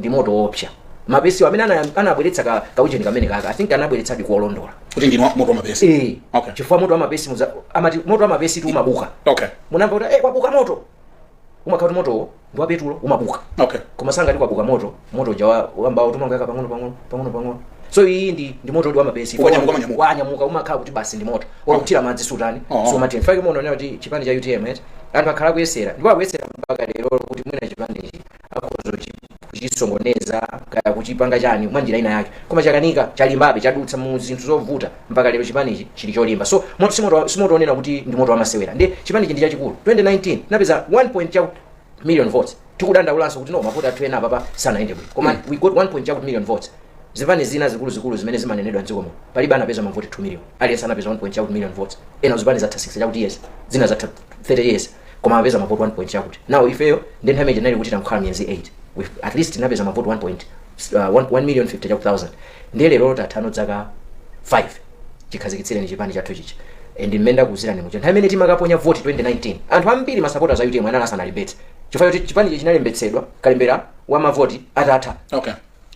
ndi moto woopsa mapesi amene ana- anabweretsa ka kaujeni kamene kaka i think anabweretsadi kuolondola kuti ndinu wa- moto wa mapesi eh Okay. chifukwa moto wa mapesi muza- amati moto wa mapesi tu umabuka okay munamva kuti eh kwabuka moto umakhala kuti motowo ndi wa petulo umabuka okay koma sangati kwabuka moto moto uja wa- wambawutu umangoyaka pang'ono pang'ono pang'ono pang'ono so iyi ndi ndi moto ndi wamapesi Ukanyamuka, ukanyamuka. wanyamuka umakhala kuti basi ndi moto wakuthira madzi sutani Oh. so nchifukwa chake muonanena kuti chipani cha utm eti anthu akhala kuyesera ndipo akuyesera mpaka lero kuti mwina chipani ichi akhoza kuchi kuchisokoneza kaya kuchipanga chani mwa njira ina yake koma chakanika chalimbabe chadutsa mu zinthu zovuta mpaka lero chipanichi chili cholimba so mo- si moto wa- si moto onena kuti ndi moto wamasewera ndi chipanichi ndi chachikulu 2019 tinapeza 1 point cha million votes tikudandaulanso kuti no mavoti athu ena apapa sanayende bwino koma we got 1 point cha million votes zipani zina zikuluzikulu zimene zimanenedwa mdziko muno palibe anapeza mavoti 2 million aliyense anapeza 1 point cha million votes ena zipani zatha 6 chakuti years zina zatha 30 years koma apeza mavoti 1 point chakuti now ifeyo ndi nthawi imene tinali kuti tangokhala miyezi 8 with at least tinapeza mavoti 1 point uh, 1 million 50 chaku 1000 ndiye lero tathano dzaka 5 chikhazikitsireni chipani chathu chija and mmene ndakuzirani muja nthawi imene timakaponya voti 2019 anthu ambiri masapota za utm anali asanalembetse chifukwa choti chipani ichi chinalembetsedwa kalembera wa mavoti atatha okay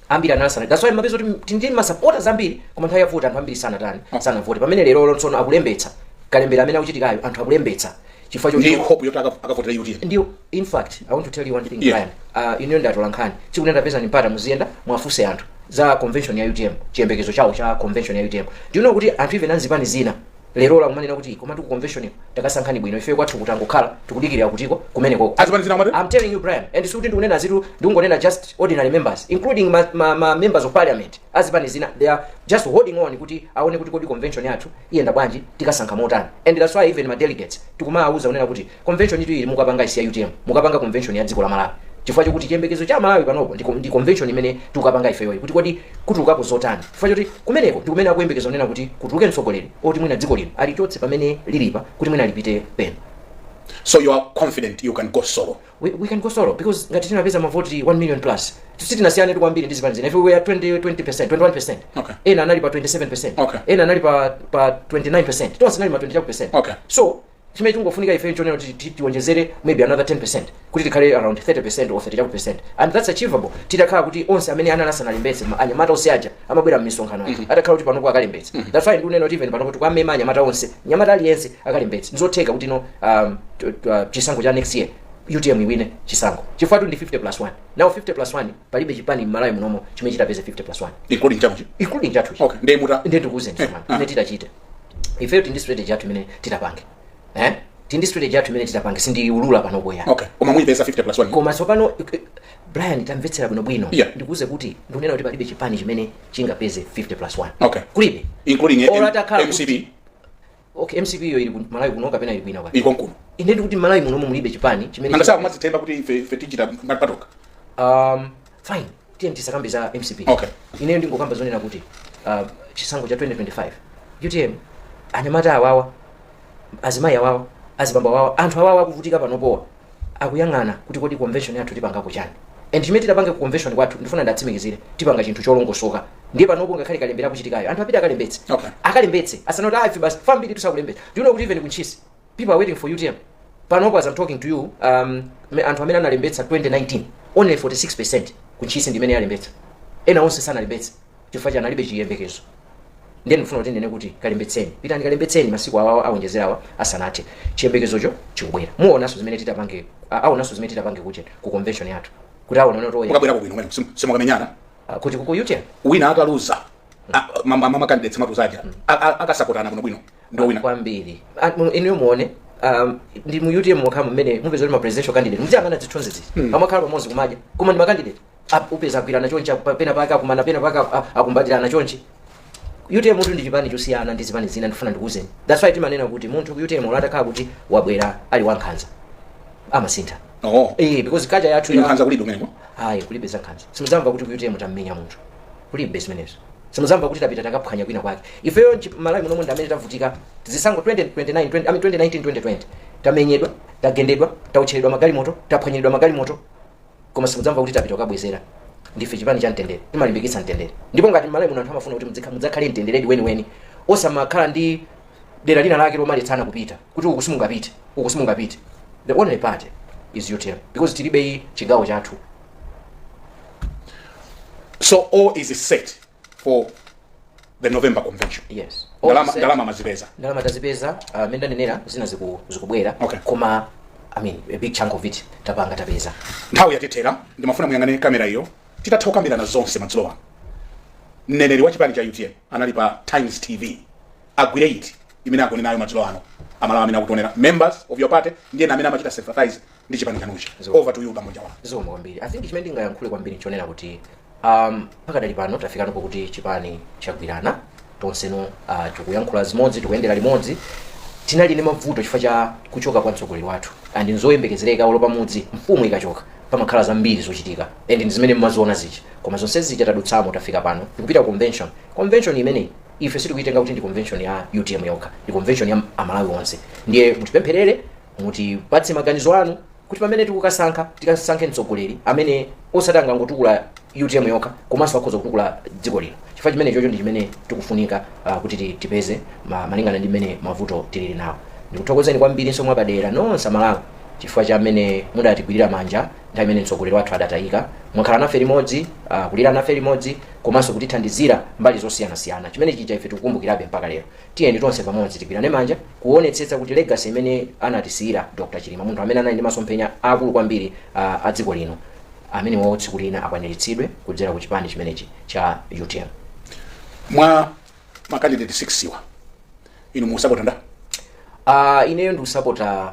ambiri anali asana that's why mupeza kuti tili ndi masapota ambiri koma nthawi yovota anthu ambiri sanatani sanavote pamene lero tsono akulembetsa kalembera amene akuchitikayo anthu akulembetsa chifukwa choti hope yoti aka- akavotera utm ndi in fact i want to tell you one thing Yeah. Brian uh, inuyo ndi atolankhani chikuti ndapezani mpata muziyenda mwafunse anthu za convention ya utm chiyembekezo chawo cha convention ya utm do you know kuti anthu even amzipani zina lerolo akumanena kuti komatu ku conventioniko takasankhani bwino ifeyo kwathu kuno tangokhala tikudikirira kuti koma kumenekoko Azipani zina amati? I'm telling you Brian and sikuti ndikunena zitu ndikungonena just ordinary members including ma, ma, ma members of parliament azipani zina they are just holding on kuti aone kuti kodi convention yathu iyenda bwanji tikasankha motani and that's why even ma delegates tikumawauza kunena kuti Convention tu ili mukapanga si ya utm mukapanga convention ya dziko la Malawi chifukwa chokuti chiyembekezo cha Malawi panopo ndi, ndi convention imene tikukapanga ifeyoyi kuti kodi kutulukapo zotani chifukwa choti kumeneko ndi kumene akuyembekeza kunena kuti kutuluke mtsogoleri woti mwina dziko lino alichotse pamene lilipa kuti mwina lipite pena so you are confident you can go solo we, we can go solo because ngati tinapeza mavoti 1 million plus sitinasiyane tu kwambiri ndi zipani zina ife we were 20 20% 21% Okay. ena anali pa 27% Okay. ena anali pa pa 29% tonse anali ma 20% Okay. so chimene tikungofunika ife nchonena kuti ti- tiwonjezere maybe another 10 percent kuti tikhale around 30 or 30 chakuti percent and that's achievable titakhala kuti onse amene anali asanalembetse ma- anyamata onse aja amabwera mmisonkhano aja atakhala kuti panopo akalembetse that's why ndikunena kuti even panopo tikuwamema anyamata onse nyamata aliyense akalembetse ndizotheka kuti no um, t- t- uh, chisankho cha next year utm iwine chisankho chifukwa tu ndi 50 plus 1 now 50 plus 1 palibe chipani mmalawi munomo chimene chitapeze 50 plus 1 including chanucho including chathu okay ndiye muta ndiye ndikuuzeni Eh, tsopano ah. ine titachite ifeyo tindi strategy yathu imene titapange eh tindi strategy yathu imene titapange sindiulula panopo yayi okay koma muyipeza 50 plus 1 koma tsopano eh, brian tamvetsera bwinobwino Yeah. ndikuuze kuti ndikunena kuti palibe chipani chimene chingapeze 50 plus 1 Okay. kulibe including Or M- atakhala mcp okay mcp iyo ili ku malawi kuno kapena ili kwina kwake ili konkuno ine ndikuti malawi munomo mulibe chipani chimene nanga si akumadzithemba kuti ife ife tichita ngati patokha um, fine tiyeni tisakambe za mcp Okay. ineyo ndingokamba zonena kuti uh, chisankho cha 2025 utm anyamata awawa azimayi awawa azibambo awawa anthu awawa akuvutika panopowa akuyang'ana kuti kodi convention yathu tipangako chani and chimene titapange ku convention kwathuko ndifuna ndiwatsimikizire tipanga chinthu cholongosoka ndiye panopo ngakhale kalembera akuchitikayo anthu apite akalembetse Okay. akalembetse asanene kuti ife basi ambiri sakulembetsa do you know kuti even ku Ntchisi people are waiting for utm panopo as i'm talking to you um, me- anthu amene analembetsa 2019 only 46 percent ku Ntchisi ndimene yalembetsa ena onse sanalembetse chifukwa chiyani alibe chiyembekezo ndiye ndikufuna kuti ndinene kuti kalembetseni pitani kalembetseni masiku awawa awonjezerawa asanathe chiyembekezocho chikubwera muonanso zimene titapange a- aonanso zimene titapange kuja ku convention yathu kuti aonane kuti oye- mukabwerako bwino mwene simu- simukamenyana ah, kuti kuku utm wina ataluza a- ma- ma- mamakandidetsi mwatuza aja a- a- akasapotana bwinobwino ndiye muwina kwambiri Ah, mu- inuyo muone um, ndi mu utm mokhamu mmene mupeza kuti ma presidential candidate muziyang'ana zithunzi zizi amakhala pamodzi kumadya koma ndi makandidate Ap- upeza agwirana chonchi apa- pena pake akumana pena pake aku- a- akumbatirana chonchi utm-tu ndi chipani chosiyana ndi zipani zina ndifuna ndikuuzeni that's why timanena kuti munthu ku utm olo atakhala kuti wabwera ali wankhanza amasintha oh eh because culture yathu ya nkhanza kulibe kumeneko ayi kulibe zankhanza simuzamva kuti ku utm tammenya munthu kulibe zimenezo simuzamva kuti tapita takaphwanya kwina kwake ifeyo nchi- malawi muno ndi amene tavutika zisankho 2029 20 I mean 2019 2020 tamenyedwa tagendedwa tawotcheredwa magalimoto taphwanyiridwa magalimoto koma simudzamva kuti tapita kukabwezera ndife chipani cha mtendere timalimbikitsa mtendere ndipo ngati m'Malawi muno anthu amafuna kuti mudzikha- mudzakhale mtenderedi weniweni osamakhala ndi dera lina lake lomalitsana kupita kuti uku simungapite uku simungapite the only party is utm because tilibe iyi chigawo chathu So all is set for the november convention yes ndalama Onse- ndalama amazipeza ndalama tazipeza uh, mene ndanenera zina ziku- zikubwera Okay. koma i mean a big chunk of it tapanga tapeza nthawi yatithera ndimafuna muyang'ane kamera iyo titatha kukambirana zonse madzulo ano mneneri wa chipani cha utm anali pa times tv agwire ziti zimene agone nazo madzulo ano amalawi amene akutionera, members of your party ndiye amene amachita sympathize ndi chipani chanuchi Zo. over to you bambo njawala zikomo kwambiri i think chimene ndingayankhule kwambiri nchonena kuti um, pakadali pano tafikano pokuti chipani chagwirana tonseno uh, tikuyankhula zimodzi tikuyendera limodzi tinali ndi mavuto chifukwa cha kuchoka kwa mtsogoleri wathu and nzoyembekezereka olo pamudzi mfumu ikachoka pamakhala zambiri zochitika and ndi zimene mmaziona zichi koma zonse zija tadutsamo tafika pano tikupita ku convention convention imeneyi ife sitikuyitenga kuti ndi convention ya utm yokha ndi convention ya amalawi onse ndiye mutipempherere Mutipatse maganizo anu kuti pamene tikukasankha tikasankhe mtsogoleri amene osati angangotukula utm yokha komanso akhoza kutukula dziko lino chifukwa chimenechocho ndi chimene tikufunika uh, kuti ti- tipeze ma, malingana ndi mmene mavuto tilili nawo ndikuthokozeni kwambirinso mwapadera nonse amalawi chifukwa cha mmene mudatigwirira manja nthawi imene mtsogoleri wathu adatayika mwakhala nafe limodzi uh, kulira nafe limodzi komanso kutithandizira mbali zosiyanasiyana chimenechija ife tikukumbukirabe mpaka lero Tiyeni tonse pamodzi tigwirane manja kuonetsetsa kuti legacy imene anatisiyira Dr Chilima, munthu amene anali ndi masomphenya aakulu kwambiri a a dziko lino, amenewowo tsiku lina akwaniritsidwe kudzera ku chipani chimenechi cha utm. mwa makandidate 6 wa inu mukusapota ndani Uh, ineyo ndikusapota